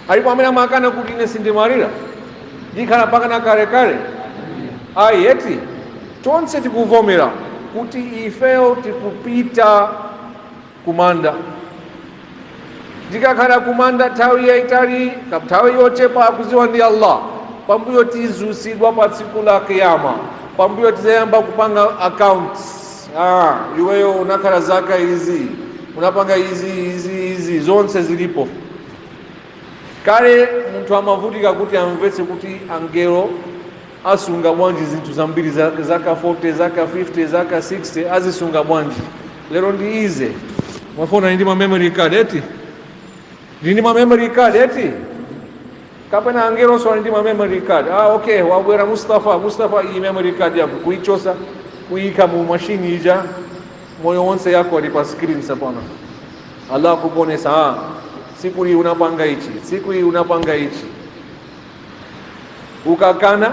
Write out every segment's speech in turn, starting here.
alipo amene amakana kuti ine sindimwalira ndikhala mpakana kalekale ayi eti tonse tikuvomera kuti ifeyo tikupita kumanda tikakhala kumanda nthawi yaitali nthawi yochepa akuziwa ndi allah pambuyo tizusidwa pa tsiku la kiyama pambuyo tizayamba kupanga accounts Ah, iweyo unakhala zaka izi unapanga izi izi izi zonse zilipo kale munthu amavutika kuti amvetse kuti angelo asunga bwanji zinthu zambiri za- zaka 40 zaka 50 zaka 60 azisunga bwanji lero ndi ize mafoni ndi ma memory card eti ndi ma memory card eti kapena angelonso ali ndi ma memory card ah okay wabwera mustafa mustafa iyi memory card yako kuichosa kuika mu mashini ija moyo wonse yako ali pa screen sopano allah kukuonesa ah siku hii unapanga ichi siku hii unapanga ichi ukakana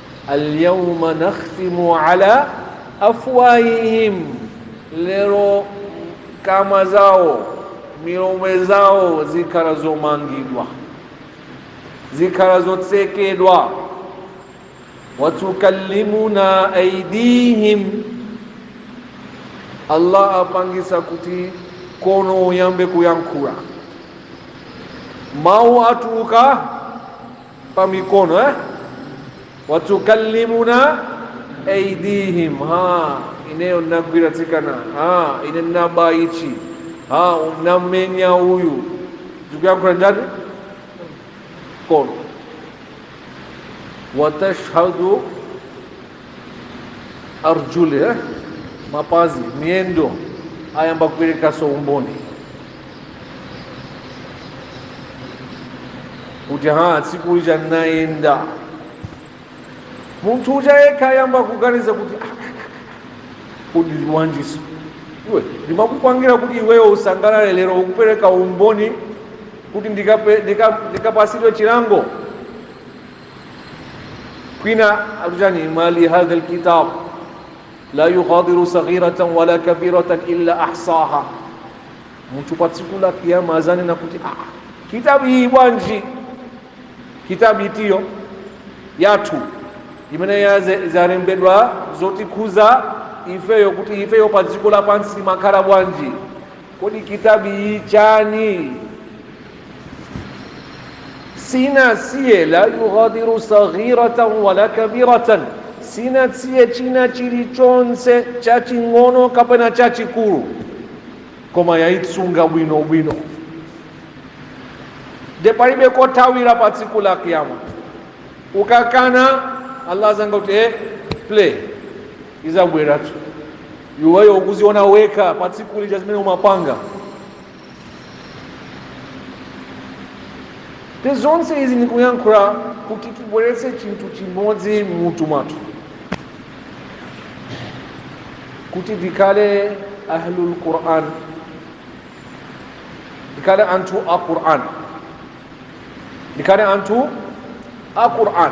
alyawma nakhtimu ala afwahihim, lero kamwa zawo milomo zawo zikhala zomangidwa zikhala zotsekedwa watukallimuna aidihim allah apangisa kuti kono uyambe kuyankhula mawu atuluka pa mikono eh? watukallimuna aidihim ha ineyo nagwira tsikana ha ine naba ichi ha namenya uyu ukuyankhula ndani kono watashhadu arjuli eh? mapazi miyendo ayamba kuperekaso umboni kuti ha tsiku lija ndinayenda munthu uja yekha ayamba kuganiza kuti "Ah, ah, ah, kodi bwanjiso iwe ndimakupangira kuti iweyo usangalale lero ukupereka umboni kuti ndikape- ndika- ndikapasidwe chilango kwina akuchani mali hadha lkitab la yughadiru saghiratan wala kabiratan illa ahsaha mtu pa tsiku la kiyama azanena kuti ah, kitabu iyi bwanji kitabu itiyo yathu imene yaze- zalembedwa zotikhuza ifeyo kuti ifeyo pa dziko lapansi timakhala bwanji Kodi kitabu iyi nchani? Siinasiye la yughadiru saghiratan wala kabiratan, siinasiye china chilichonse chaching'ono kapena chachikulu, koma yaisunga bwino bwino nde palibe kothawira pa tsiku la kiyama ukakana allah azanga kuti eh, play izabweratu iweyo ukuziona wekha pa tsiku lija zimene umapanga nde zonse izi ndikuyankhula kuti tibweretse chinthu chimodzi mmutu mwathu kuti tikhale ahlul quran tikhale anthu a quran tikhale anthu a quran